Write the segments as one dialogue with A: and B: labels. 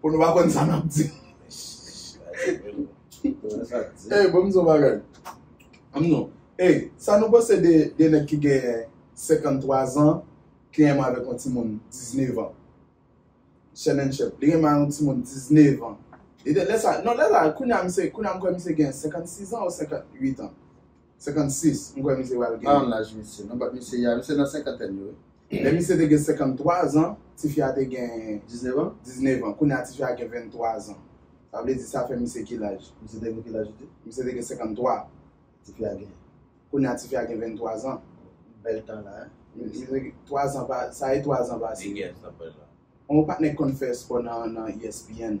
A: Bon nou pa konn sa nap di. Ey bon mizou bagay. Am nou. Ey sa nou panse de de nèg ki gen 53 zan ki renmen avèk yon ti moun 19 an. Chènènchèp. Li renmen yon ti moun 19 an. Lè sa non lè sa kounya misye kounya m kwè misye gen 56 an ou 58 an. 56, m kwè misye pral gen. An laj misye? Non bat
B: misye ya, misye nan senkantèn li wi. Lè misye te gen 53
A: zan, tifi a te gen. 19 an? 19
B: an. Kounye a tifi
A: a gen 23 zan. Sa vle di sa fè misye ki laj? Misye te gen ki laj ou di?
B: Misye te gen 53.
A: Tifi a gen?
B: Kounye a tifi a
A: gen 23 zan. Bèl tan la
B: hein. Misye gen 3
A: zan pa, sa e 3 zan pase. Li gen san pèl la. On patnè k konn fè espò nan ESPN.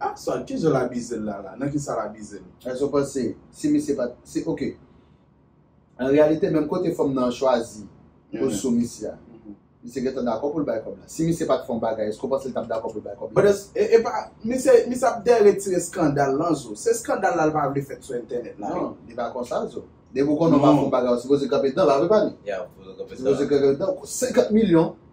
B: Ah Swat ki
A: jan l abizel la la? Nan kisa l abizel? Èske w panse
B: si misye pat si ok an reyalite menm kote fanm nan chwazi pou l sou misye a misye gentan dakò pou l bay kòb la si misye pat fè yon bagay èske w panse l tap dakò pou l bay kòb la? Epa misye
A: misye ap dèyè retire skandal lan zo se skandal la l pa vle fèt sou entènèt la wi. Non li pa konsa zo
B: depi w konnen w pa fè yon bagay ou sipoze kanpe dan l a wi pa li? Yeah ou sipoze
C: kanpe dan l a. Ou sipoze
B: kanpe dan l 50 milyon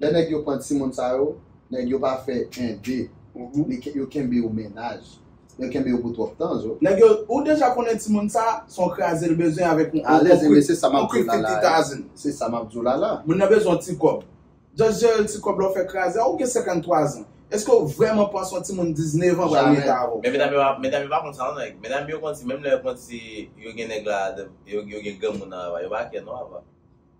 B: Lè nèg yo pran timoun sa yo, nèg yo pa fè 1 2 men yo kenbe yo mennaj, yo kenbe yo pou twòp tan zo. Nèg yo, ou deja konnen
A: timoun sa, son kraze l bezwen avèk yon krip
B: krititazn. Se sa
A: map di w
B: la la. Moun nan bezwen yon ti kòb.
A: Just jere l ti kòb la ou fè kraze a, ou gen 53 zan. Eske w vrèman panse yon timoun 19 an pral mete avè w? Men medam yo pa, medam yo pa
C: konn sa non nèg. Medam yo konn si menm lè yo konn si yo gen nèg la, yo gen granmoun nan ava, yo pa kè non ava.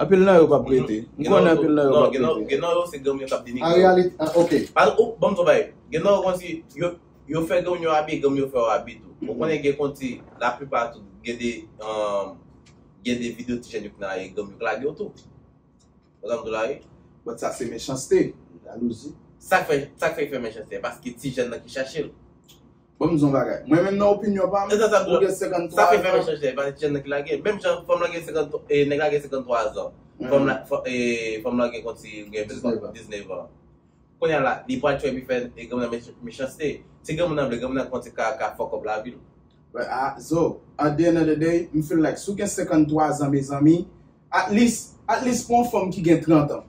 C: Anpil
A: nan yo pap rete. M konnen anpil nan yo pap
C: rete. Gen nan yo se granm yo kap denigre yo. An
B: reyalite, ok. Banm di w yon bagay,
C: gen nan yo konn si yo fè granm yo abi, granm yo fè yo abi tou. Ou konnen gen konn ti la plipa tou gen de gen de video ti jèn yo ki nan lari granm yo k lage yo tou. Wè sa m di w la wi.
A: But sa se mechanste, jalouzi.
B: Sak fè, sak
C: fè yo fè mechanste? Paske ti jèn nan ki chache l. Bon m di w
A: yon bagay. Mwen menm nan opinyon pa m, ou gen 53 zan. Sa fè menm chanje,
C: e pa jan nèg la gen. Menm jan fanm lan gen 53, nèg la gen 53 zan. Fanm lan, fanm lan gen konti gen 19 an. Kounya la, li pral tchwepi fè granmoun nan mechanste. Si granmoun nan vle, granmoun nan konti ka ka fuck up lavi l. But a, zo,
A: at the end of the day, m feel like si w gen 53 zan mezanmi, at least, at least pou yon fanm ki gen 30 an,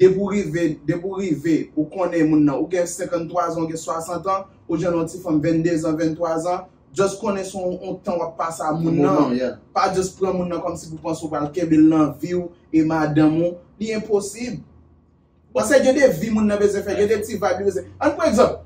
A: Depi w rive, depi w rive, ou konnen moun nan, ou gen 53 zan, ou gen 60 an, ou jwenn yon ti fanm 22 zan, 23 zan, just konnen se yon tan w ap pase a moun nan, pa just pran moun nan kòmsi pou panse ou pral kenbe l nan vi w e madanm ou, li enposib. Paske gen de vi moun nan bezwen fè, gen de ti vayb li bezwen. Ann pran egzanp.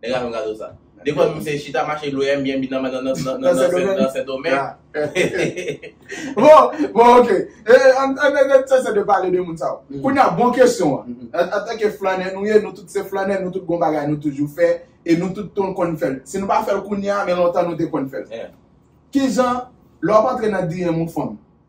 A: Nèg la fè m kado sa. De fwa misye chita mache lwe anbyen bi nan nan sendomeng. Bon, bon ok. E, an nan sese de pale de moun sa yo. Kounye a, bon kesyon an. An tanke flannè nou ye, nou tout se flannè, nou tout gon bagay nou toujou fè, e nou tout ton konn fè l. Si nou pa fè l kounye a, men lontan nou te konn fè l. Kijan, lè w ap antre nan DM yon fanm,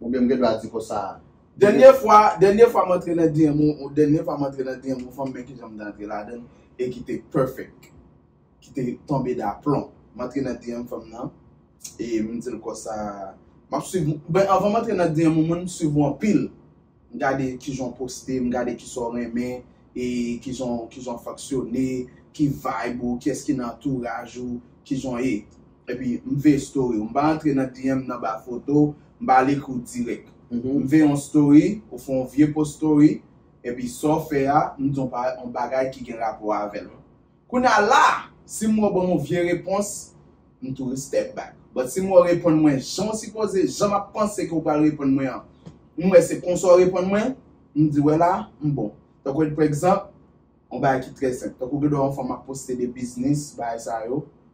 B: Ou byen m gen dwa di konsa. Dènye fwa,
A: dènye fwa m antre nan DM ou, ou dènye fwa m antre nan DM ou fanm men kijan m te antre ladan l e ki te perfect. Ki te tonbe daplon. M antre nan DM fanm nan e m di l konsa, m ap swiv ou, ben avan m antre nan DM ou mwen m swiv ou anpil. m gade kijan w poste, m gade kisa w renmen, e kijan w kijan w foksyone, ki vibe ou, kiyès ki nan antouraj ou, kijan w ye. Epi m veye story w. M pa antre nan DM nan ba foto w, m pa al ekri w dirèk. M veye yon story, ou fè yon vye post story, epi sa w fè a, m di w yon bagay ki gen rapò avè l. Kounya la a, si mwen ban yon vye repons, m tou respect back. But si mwen reponn mwen jan w sipoze, jan m ap panse ke w pral reponn mwen an, m wè se konsa w reponn mwen, m di wè la a, m bon. Tankou edpregzanp, yon bagay ki trè senp. Tankou gen dwa yon fanm ap poste de biznis, bagay sa yo,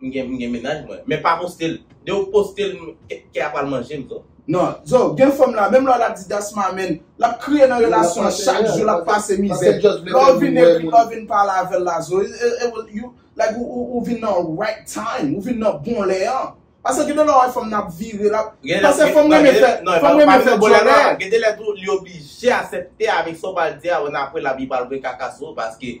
C: M gen m gen mennaj mwen. Men pa postel. Dew postel m kè a pral manjem zo. Non Zo gen
A: fanm la menm lè lap di that's my man lap kriye nan relasyon an chak jou lap pase mizè lè ou vin ekri lè ou vin pale avèl la Zo like ou vin nan right time ou vin nan bon lè an pase gen de lè ou wè fanm nan ap vire lap pase fanm renmen fè dyòlè
C: gen de lè tou li oblije asèpte avèk sa ou pral di a ou nan apre lap vin pral voye kaka sou ou paske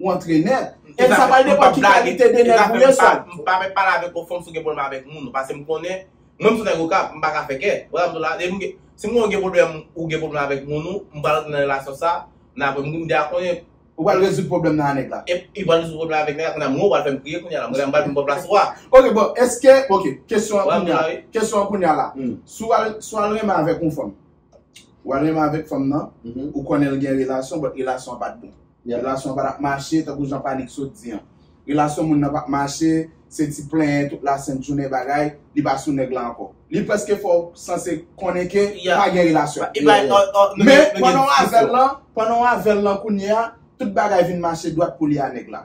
A: ou antre nèt. E sa pral depan ki kalite de nèg ou ye sa. M pa mèt pale avèk ou
C: fòm si w gen pwoblèm avèk moun. Pase m konnen, mwen m son nèg okap, m pa ka fè kè. Ou wè sa m di w la? Depi m gen, si m konnen w gen pwoblèm, ou gen pwoblèm avèk moun ou, m pral antre nan relasyon sa, nan apre m deja konnen. Ou pral rezoud pwoblèm
A: nan a nèg la. Epi li pral rezoud pwoblèm avèk
C: nèg la, kounye a mwen ou pral fè m kriye kounye a la. Mwen m pral vin pran plas ou a. Ok bon, eske, ok,
A: kesyon an kounye a, kesyon an kounye a la. Si w al, si w al renmen avèk yon fanm, ou al renmen avèk fanm nan, ou konnen l gen relasyon, bòt relasyon an pa t bon. Lè relasyon an pa tap mache, tankou jan Panic sot di an. Relasyon moun nan pap mache, se ti plenyen tout la sent jounen bagay, li pa sou nèg la ankò. Li prèske fè w sanse konnen ke pa gen relasyon. Men, pandan w avè l lan, pandan w avè l lan kounye a, tout bagay vin mache dwat pou li a nèg la.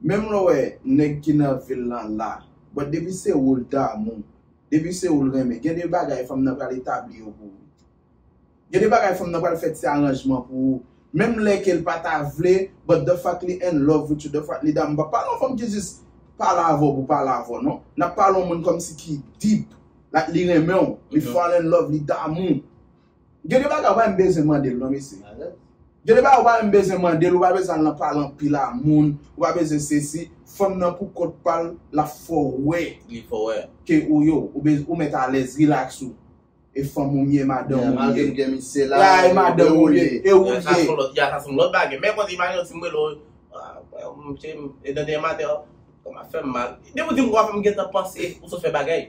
A: Menm lè w wè nèg ki nan vil lan la, but depi se ou l damou, depi se ou l renmen, gen de bagay fanm nan pral etabli yo pou ou. Gen de bagay fanm nan pral fè ti aranjman pou ou, menm lè ke l pa ta vle, but the fact li in love with you, the fact li damou. M pa pale yon fanm ki jis pale avè w pou pale avè w non. N ap pale yon moun kòmsi ki deep, like li renmen w, li fall in love, li damou. Gen de bagay ou pa menm bezwen mande l non mesye. Gen de bagay ou pa menm bezwen mande l, ou pa bezwen al nan pale anpil a moun, ou pa bezwen sesi, fanm nan pou kont pa l, l ap fè w wè
C: ke ou yo,
A: ou mèt alèz, rilaks ou. E fanm ou m ye, madanm ou m ye. La e madanm ou m ye, e ou l
B: ye. Sa son lòt bagay. Men konsi
A: imajine w si m rele w, mesye m, e dènye maten
C: an, kòm ap fè m mal. Depi w di m kòm ap fè m, m gentan panse ou sot fè bagay.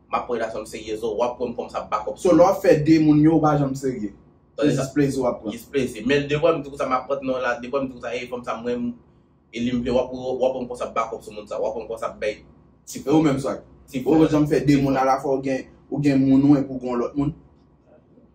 C: Map pran relasyon m serye zo wap pranm kòm sa bakòp sou. So lè wap fè de moun
A: yo ou pa janm serye. Se jis plezi wap pran. Jis plezi. Men de wèm
C: di konsa map pran non la de wèm di konsa hey fanm sa m renmn e li m vle wap pranm kòm sa bakòp sou moun sa wap pranm kòm sa bèy ti frè. E ou menm swag?
A: Ou janm fè de moun alafwa ou gen moun ou epi ou gen yon lòt moun?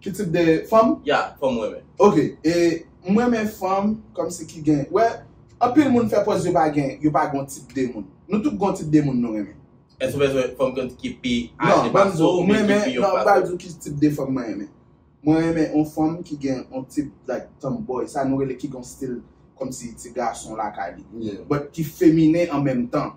C: Ki tip de fanm?
A: Ya, fanm ou renmen.
C: Ok, e
A: m renmen fanm kòmsi ki gen, wè, anpil moun fè pòz yo pa gen, yo pa gen yon tip de moun. Nou tout gen yon tip de moun nou renmen. Èske ou bezwen fanm ki pi aje
C: pase w oubyen ki pi yon pase
A: w? Non, banm di w, non, m pral di w ki tip
C: de fanm
A: mwen renmen. Mwen renmen yon fanm ki gen yon tip like tomboy, sa nou rele ki gen yon stil kòmsi ti gason lakay li. But ki feminen an menm tan.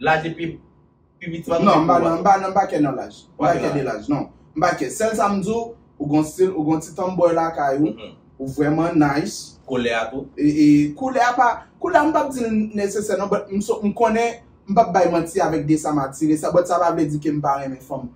C: Laj epi pi piti pa Non, m pa nan, m pa nan, m
A: pa kè nan laj. M pa kè de laj, non. M pa kè. Sèl sa m di w, ou gon stil, ou gon ti tomboy lakay ou, ou vrèman nice. Koulè a tou?
C: E, koulè a pa,
A: koulè a m pap di l nesesè non, but m konnen, m pap bay manti avèk de sa m atire sa, but sa pa vle di ke m pa renmen fanm.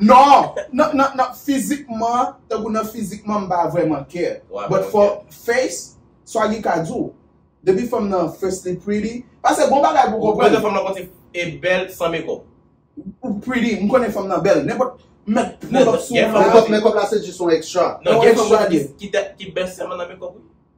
C: Non,
A: nan fizikman, tan kou nan fizikman m pa vreman kè. But for face, sa li ka di w. Depi fanm nan firstly pretty, pase bon bagay pou konprann. Ou konnen fanm nan konti
C: e bèl san mekop. Ou pretty,
A: m konnen fanm nan bèl. Nenpòt, mèt pwodòk sou ou. Mekop la se jis
B: yon extra. Ki bèl sèlman nan
A: mekop
C: ou.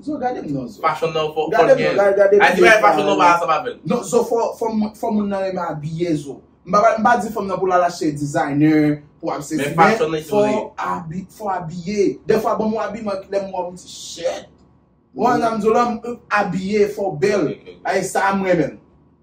A: Zo
C: gade m non zo. Fashion nan fò
A: fò gen. Gade m gen fashion nan pa ansanm avèl. Non zo fò moun nan renmen abiye zo. M pa di fanm nan pou l al achte designer pou al sezi men
C: fò
A: abiye. De fwa banm yon abiman ki lè m wè w m di shit. Ou wè sa m di w la abiye fò bèl. Sa m renmen.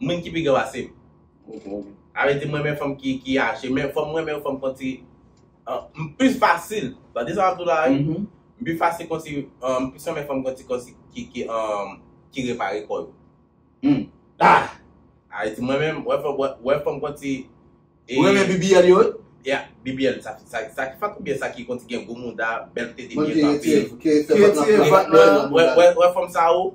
C: Mun ki pi gran pase m. Arete m renmen fanm ki aje men fom renmen yon fanm konti m plis fasil tande sa map diw la wi m pi fasil konsi m plis renmen fanm konti konsi ki repare kò yo m ah arete m renmen wè fanm konti ou renmen
A: BBL yo wi ya BBL
C: sa ki fat oubyen sa ki konti gen gwo mouda bèl tete byen kanpe
B: wè fanm sa ou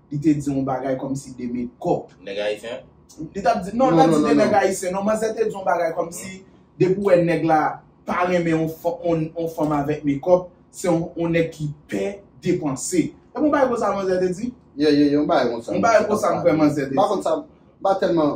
A: li te di yon bagay kòmsi de mekòp. Nèg ayisyen?
C: Li tap di, non
A: li pat di de nèg ayisyen non, manzè te di yon bagay kòmsi depi ou wè nèg la pa renmen yon fanm avèk mekòp, se yon nèg ki pè depanse. Epi yon bagay konsa manzè te di? Yeah, yeah, yon bagay konsa.
B: Yon bagay konsa m kwè manzè
A: te di. M pa konn sa, m pa
B: tèlman.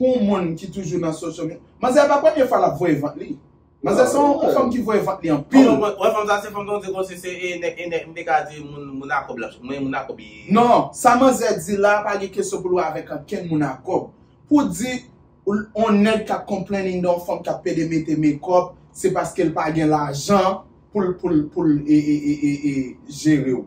A: Pou yon moun ki toujou nan social media. Manzè pa premye fwa lap voye vant li. Manzè se yon fanm ki voye vant li anpil. Ou wè fanm sa se fanm ton
C: diego si se e nèg e nèg m te ka di moun a kòb lap men moun a kòb li. Non, sa manzè
A: di la pa gen kesyon pou l wè avèk ankenn moun a kòb. Pou di yon nèg kap complaining de yon fanm kap pede mete mekòp se paske l pa gen lajan pou l pou l pou l e e e e jere w.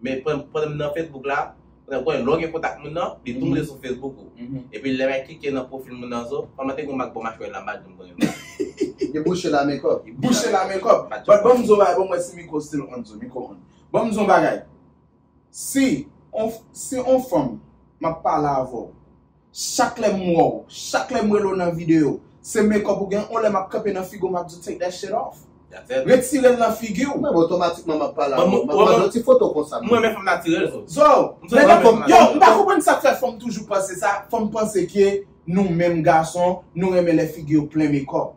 C: Men pandan m nan Facebook la, paske ou konnen lè w gen kontak moun nan, li tou moute sou Facebook ou. Epi lè mwen klike nan pwofil moun nan zo, kòman te gen yon mak bò machwè la m pa janm konnen non. Li bouche la
B: men kòb. Li bouche la men kòb.
A: Bat banm zon bagay pou m wè si mikro still on zo, mikro on. Banm zon bagay. Si on si on fanm map pale avè w. Chak lè m wè w, chak lè m wè l ou nan videyo, se makeup ou gen, on lè map kanpe nan figi w map di w take that shit off. Retire l nan figi w. Menm otomatikman map
B: pale avè w, map mande w ti foto konsa menm. M renmen fanm natirèl zo.
C: Zo, lè
A: fanm, yo m pa konprann sak fè fanm toujou panse sa, fanm panse ke nou menm gason nou renmen lè figi yo plen makeup.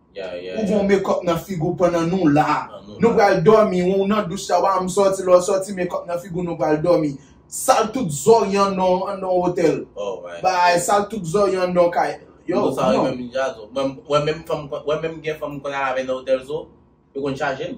A: Ou gon mekòp
C: nan
A: figou pandan nou la Nou pral dòmi ou nan douch la wa m sòti lè w sòti mekòp nan figou nou pral dòmi Sal tout zòrye anndan yon otèl Bagay
C: sal tout zòrye
A: anndan yon kay Yo Yo sa rive m jazo
C: Mwen menm fanm mwen menm gen fanm m konn al avè nan otèl zo Yo konn chaje m.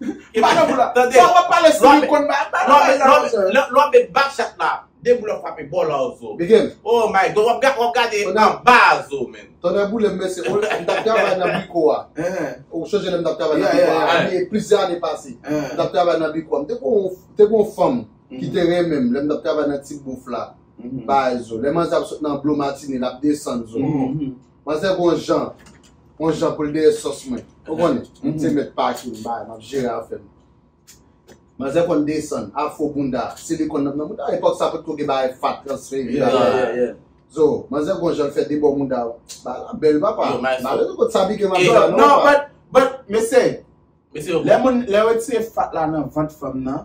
C: Lè w ap met bak chat la, de boul ap frape bò la ou zo. Oh my God, w ap gade anba a zo men. Tonnè boulem men se
B: ou, m tap travay nan biko a. Ou sonje lè m tap travay nan biko a, ane, plizyè ane pase. M tap travay nan biko a. M te kon yon, te kon yon fanm ki te renmen m lè m tap travay nan ti bouf la. Bay zo. Lè manzè ap sot nan blo matine, l ap desann zo. Manzè gen yon jan, yon jan pou l dèyè sòs mwen. Ou konnen, m se mèt pati, m bay, m ap jere afè m. Manzè konn desann, afro bounda, silikòn nan nan bounda. Epòk sa potko gen bagay fat, transfè, epi bagay.
A: Zo, manzè
B: gen yon jan l fè debò mounda w. Bagay la bèl papa. Mare nou kot sa pike m ap jwe la non papa. Non, but,
A: but, mesye, lè moun, lè yo retire fat la nan vant fanm nan.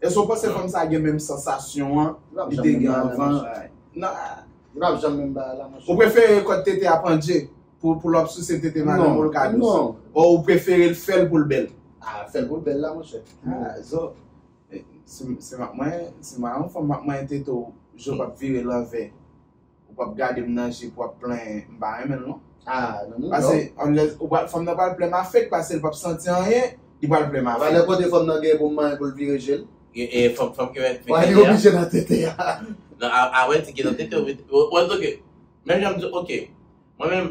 A: Èske w panse fanm sa gen menm sansasyon an li te gen anvan? Ou prefere kòd tete a pandje pou lòp souse tete madanm ou l ka dous? Ou prefere
B: l
A: fè l pou l bèl? Fè l pou l bèl
B: la monchè. Zo,
A: si m ap manyen fanm m ap manyen tete w, je w pa p vire l anvè. Ou pap gadem nan je pou ap plenyen m pa renmenl non. Ah nan non. Pase
B: unless ou
A: pral fanm nan pral plenyen ma fek pasel pap santi anyen li pral plenyen ma fek. Valè kote fanm nan gen pou
B: manyen poul vire jel. E fok fanm ki
C: met tete a. Li oblije nan tete
B: a. Non a wè
C: ti gen nan tete ou vin. Wè ok menm jan m di ok mwen menm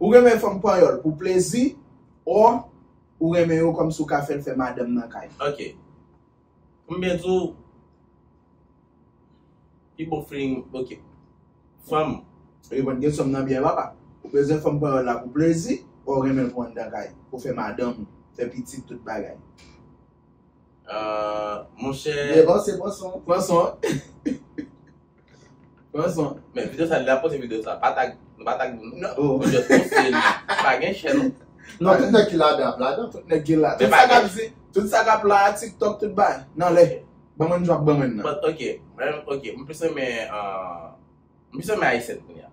C: Ou renmen
A: fanm panyòl pou plezi or ou renmen yo kòmsi ou ka fèl fè madanm nan kay. Ok.
C: Poum byen diw pi bon feeling ok fanm. Reponn
A: kesyon m nan byen papa. Ou bezwen fanm panyòl la pou plezi or ou renmenl pou anndan kay, pou fè madanm ou, fè pitit tout bagay. Ahh
C: monchè. Bon se pran son.
B: Pran son.
C: Pran son. Men video sa li ap poste video sa. Pa tag nou pa tag moun nan. Nou just poste
A: li.
C: Pa gen chè non. Non tout nèg ki ladan
B: ap ladan. Tout nèg ki la. Tout sa
A: kap di. Tout sa kap la tiktok tout ba. Nan lè. Ban mwen jou ap ban mwen nan. But ok. Mwen ok.
C: Mwen plis renmen an. Mwen plis renmen ayisyen kounye a.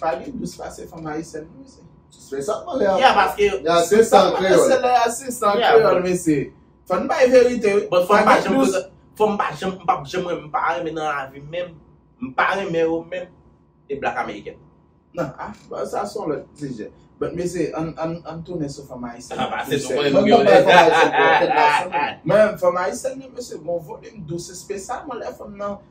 A: Pa gen dous pase fanm ayisyèn non mesye. Se sak pale a.
B: Yeah paske. Yeah se
C: san kreyol.
B: Se lè a se san
A: kreyol mesye. Fò n bay verite wi. Bon fòm pa janm dous.
C: Fòm pa janm m pap janm renmen m pa renmen nan lavi m menm. M pa renmen yo menm. E blak ameriken.
A: Nan ah sa son lòt sijè. But mesye ann tounen sou fanm ayisyèn. Ah pase nou konnen nou gen yon
C: lè. Mwen
B: fòm
A: ayisyèn yo mesye gon volim dous espesyalman lè fanm nan.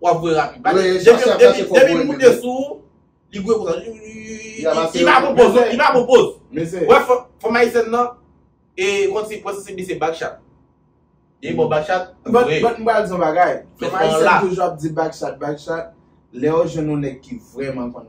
C: Wap wè rapid. Pale Wè, Depi Joseph la se fò depi moun mwen te sou ou, li gwe konsa. Y ap Li pa pran poz, li pa pran poz. Mezè. Wè fò,
A: fanm ayisyèn
C: nan, e kont se kont se li se back chat. Depi bon back chat, li But, voye. but m pral di yon
A: bagay. Men Fanm se pa yon ayisyèn laf. toujou ap di back chat, back chat. Lè yo jwenn yon nèg ki vrèman konn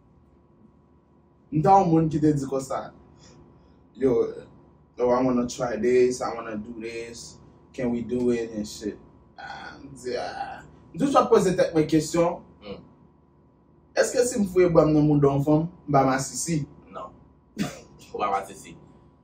A: M ta yon moun ki te di konsa, yo, oh I wanna try this, I wanna do this, can we do it and shit. Ah, m di ah. M toujou ap poze tèt mwen kesyon, èske si m fouye bra m nan mouda yon fanm, m pa masisi? Non. Ou
C: pa masisi.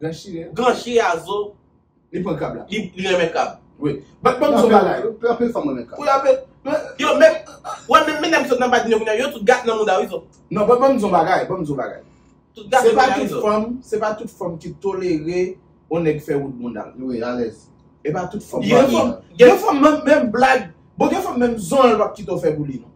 A: Gran chien a zo.
C: Li pran krab la.
A: Li renmen krab.
C: Wi. Bat banm zo
A: bagay. Yo anpil fanm renmen krab. Pou
B: la pet.
A: Yo menm
C: wè menm medam ki sot nan badminton kounya yo tout gat nan mouda wi zo. Non bat banm zo bagay.
A: Banm zo bagay. Tout gat
C: nan mouda wi zo. Se pa tout fanm, se pa
A: tout fanm ki tolere yon nèg fè wout bounda l. Wi alèz.
B: E pa tout fanm.
A: Gen
C: fanm
A: menm blag. Bon gen fanm menm zonl pap kite w fè pou li non.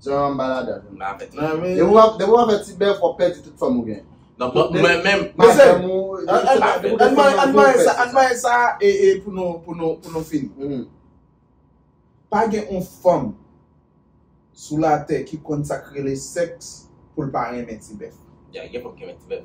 C: Jan an ba
B: ladan. M la avèk
C: la men. Depi wap
B: fè ti bèf wap pèdi tout fanm ou gen. Donk mwen menm.
A: Mezè. An mwen sa e pou nou fini. Pa gen yon fanm sou la tè ki konn sak rele sèks pou l pa renmen ti bèf. Ya gen fanm ki renmen
C: ti bèf.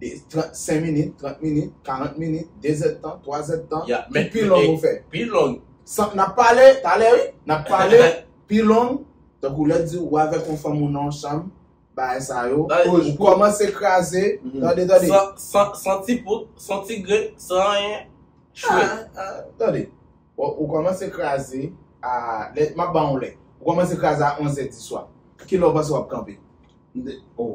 A: 35 minit, 30 minit, 40 minit, 2 zèdtan, 3 zèdtan, ki pi long ou fè?
C: Pi
A: long. San,
C: n ap pale,
A: talè wi, n ap pale, pi long, tankou lè di ou avèk yon fanm ou nan yon chanm, bagay sa yo, ou kòmanse kraze, tande, tande. San, san ti
C: poud, san ti grenn, san
A: anyen, chwe. Tande, ou kòmanse kraze a, lè, m ap ban ou lè, ou kòmanse kraze a 11 zèdiswa, ki lè ou panse w ap kanpe? M de, o.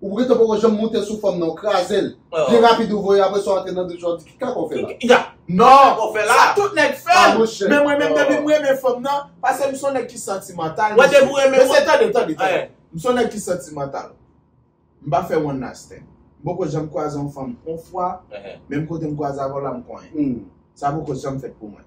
B: Ou pou kètè poko janm moute sou fanm nan ou krazel Pi rapid ou voye apresa w antre nan douch la w di ki kaka w fè la. Non! Sa
A: tout nèg fè l! Men mwen menm depi m renmen fanm nan pase m son nèg ki santimantal mesye
C: tande tande
A: tande m son nèg ki santimantal m pa fè one night stand m poko janm kwaze yon fanm on fwa menm kote m kwaze avè w la m konyen sa poko janm fèt pou mwen.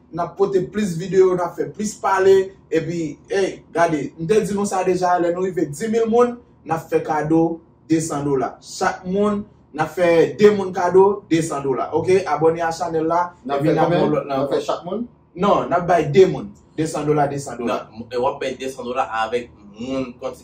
A: Nap pote plis video, nap fè plis pale, epi ey gade m te di nou sa deja lè nou rive 10000 moun nap fè kado 200 dola chak moun nap fè 2 moun kado 200 dola ok abòne a chanèl la nap fè konbyen
B: nap fè chak moun non nap bay 2
A: moun 200 dola 200 dola
C: wap bay 200 dola avèk moun konti.